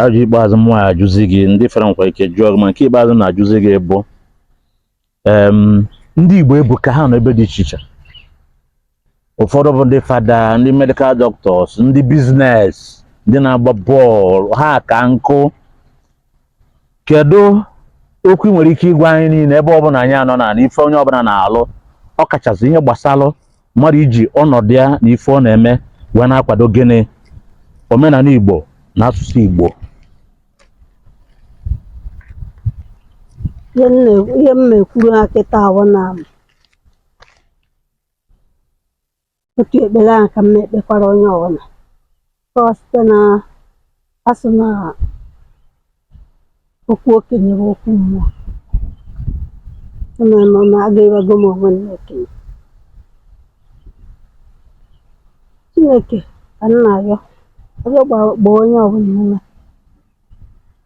ajụ ikpeazụ m nwa ya-ajụzi gị ndị fọrọ nwekwa ike jụọ gị ma nke ikpeazụ na-ajụzi gị bụ em, ndị Igbo ebuka ha nọ ebe dị iche iche ụfọdụ bụ ndị fada ndị medikal dọktọs ndị biznes ndị na-agba bọọlụ ha ka nkụ kedu okwu ị nwere ike ịgwa anyị niile ebe ọbụla anyị anọna na ife onye ọbụla na-alụ ọ kachasị ihe gbasalụ mmadụ iji ọnọdụ ya na ife ọ na-eme wee na-akwado gịnị omenala Igbo na asụsụ Igbo ihe m na- ihe m na-ekwuru ha kịta bụ na otu ekpere ahụ ka m na-ekpekwara onye ọbụla ọ site na a sị na okwu okenye bụ okwu mmụọ na nọ na agụbago m onwe m n'okenye chineke ka m na-arịọ arịọ gba- gbaa onye ọbụla ume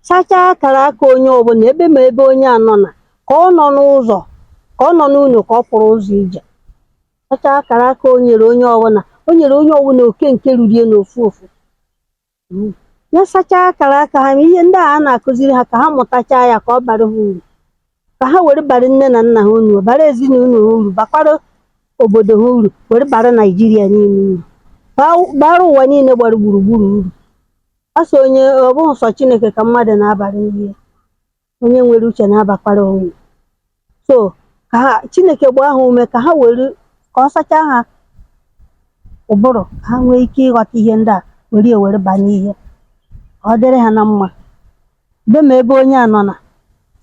sachaa akara aka onye ọbụla ebe ma ebe onye anọna ka ọ nọ n'ụzọ ka ọ nọ n'ụlọ ka ọ pụrụ ụzọ ije Sachaa akara aka o nyere onye ọbụla o nyere onye ọbụla oke nke ruru ya n'ofu ofu Mm. ya sachaa akara aka ha ma ihe ndị a a na-akụziri ha ka ha mụtachaa ya ka ọ bara ha uru ka ha were bara nne na nna ha uru bara ezinụlọ ha uru bakwara obodo ha uru were bara naijiria niile uru Ba- bara ụwa niile gbara gburugburu uru ọ sọ onye ọ bụghị sọ chineke ka mmadụ na-abara ihe onye nwere uche na-abakwara onwe so ka ha chineke gbaa ha ume ka ha were ka ọ sachaa ha ụbụrụ ka ha nwee ike ịghọta ihe ndị a were ya were baa n'ihe ka ọ dịrị ha na mma ebe ma ebe onye anọna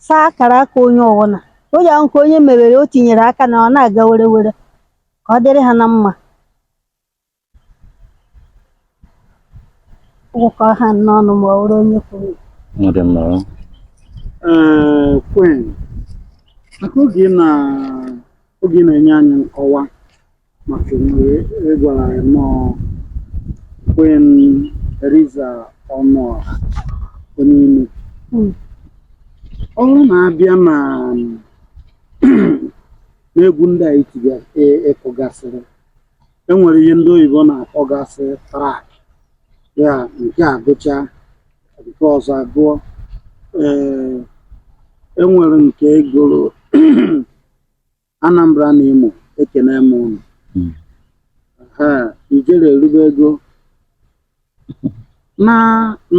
saa akara aka onye ọwụna onye ahụ ka onye mewere o tinyere aka na ọ na-aga werewere ka ọ dịrị ha na mma ụkọ ha n'ọnụ ma ọ bụrụ onye kwuru Ọ dị mma. o. Ee, Queen, maka oge ị na oge ị na-enye anyị nkọwa maka emume ị gwara anyị nnọọ Queen Theresa Ọnụọra onye ime. Mm. Ọ bụrụ na a bịa na n'egwu ndị a itiga- ị- ịkụgasịrị e nwere ihe ndị oyibo na-akpọgasị trak ya nke a gụchaa nke ọzọ agụọ ee e nwere nke ị gụrụ Anambra na Imo ekene m unu Hmm. ha ijele elubego Na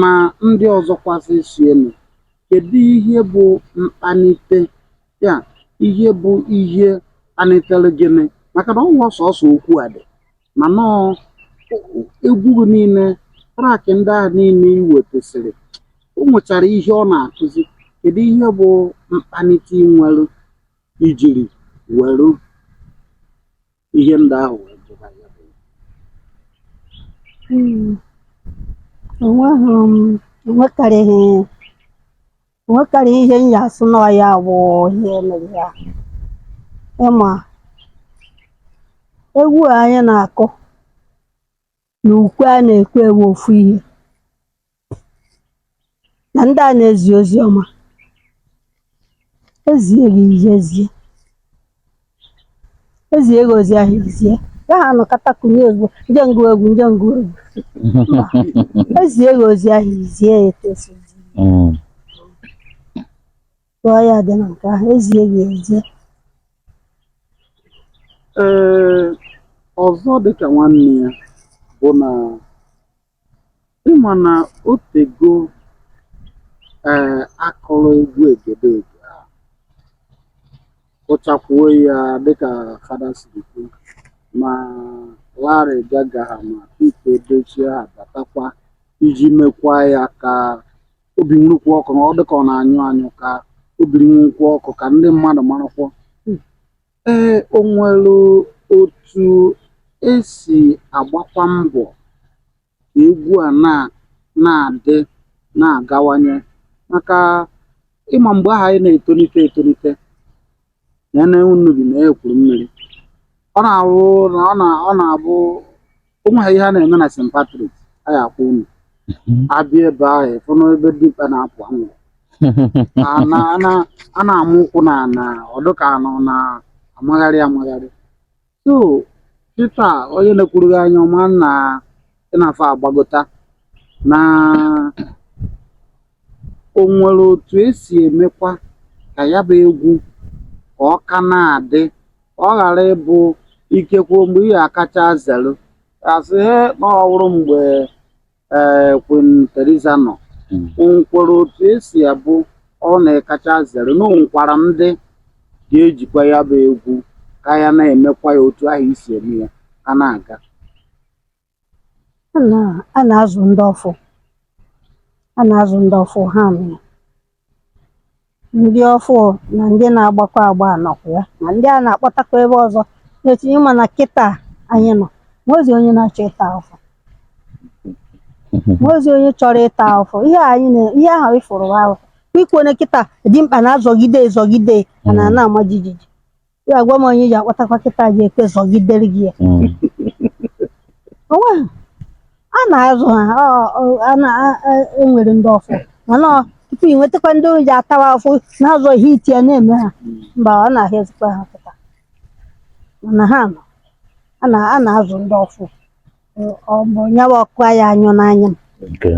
na ndị ọzọkwasị sienụ, kedụ ihe bụ mkpanite ya, ihe bụ ihe kpanitere gịnị? Maka na ọ bụghị sọsọ okwu a dị ma nnọọ egwu gị niile, track ndị ahụ niile i wetasịrị, o nwechara ihe ọ na-akụzi. Kedụ ihe bụ mkpanite i nwere i jiri were ihe ndị ahụ wee jụba ya bụ Mm. Enweghị m enwekarịghị enwekarịghị ihe m ya-asị na ọ ya bụ ihe mere ya ịma egwu a anyị na-akụ na ukwe a na-ekwe wụ ofu ihe na ndị a na-ezi ozi ọma ezie gị i je ezie ezie gị ozi ahụ i zie ya ha anọkata kụnye egwu nje ngụ egwu nje ngụ egwu Mba. ezie gị ozi ahụ i zie ya etu o si zi. Mm. Tụọ ya dị na nke ahụ ezie ya ezie. Ee, ọzọ dịka nwanne ya bụ na ịma na o tego ee a kụrụ egwu Egedege a kụchakwuo ya dịka fada siri kwu ma Larry Gaga ha ma Pete Edochie ha batakwa iji mekwa ya ka o bi nwurukwa ọkụ na ọ dịka ọ na-anyụ anyụ ka o biri nwukwa ọkụ ka ndị mmadụ marakwuo ee o nwere otu esi agbakwa mbọ ka egwu a na na-adị na-agawanye maka ịma mgbe ahụ anyị na-etolite etolite na ene Unubi na Ekwulumili ọ na-awụ na ọ na ọ na-abụ o nweghị ihe a na-eme na St. Patrick a ya akwụ unu abịa ebe ahụ ịfụ na ebe dịkpa na-apụ anwụ a na- a na- a na-amụ ụkwụ na na ọdụ ka a nọ na amagharị amagharị So kịta onye na-ekwuru gị anya ọma na ị na-afọ agbagota na o nwere otu esi emekwa ka ya bụ egwu ka ọ ka na-adị ka ọ ghara ịbụ ikekwe mgbe ị ya-akacha zelu a sị he na ọ bụrụ mgbe ee Queen Theresa nọ Mm. o nwekwara otu esi abụ ọ na-akacha zere na o nwekwara ndị ga-ejikwa ya bụ egwu ka ya na-emekwa ya otu ahụ i si eme ya ka na-aga A na- a na-azụ ndị ọfụ a na-azụ ndị ọfụ ha mee ndị ọfụụ na ndị na-agbakọ agba anọkwa ya ma ndị a na-akpọtakwa ebe ọzọ na-etinye ma na kịta anyị nọ nwezi onye na-achọ ịta afụfụ nwezi onye chọrọ ịta afụfụ ihe anyị na ihe ahụ ị fụrụ ahụ ikwu onye kịta dimkpa na-azọgide ezọgide ana ana-ama jijiji Ị ga-agwa m onye ị ji akpọtakwa kịta ji ekwe zọgidere gị ya. Mm. O nwee a na-azụ ha ọ- ọ- a na- a- a- e nwere ndị ọfụ mana ọ- tupu ị nwetakwa ndị ji atawa afụfụ na-azọ ihe iti ya na-eme ha mba ọ na-ahịazikwa ha kịta mana ha nọ a na- a na-azụ ndị ọfụ Ọ- ọ bụ nya wụ ọkụ ya anyụọ n'anya m Okay.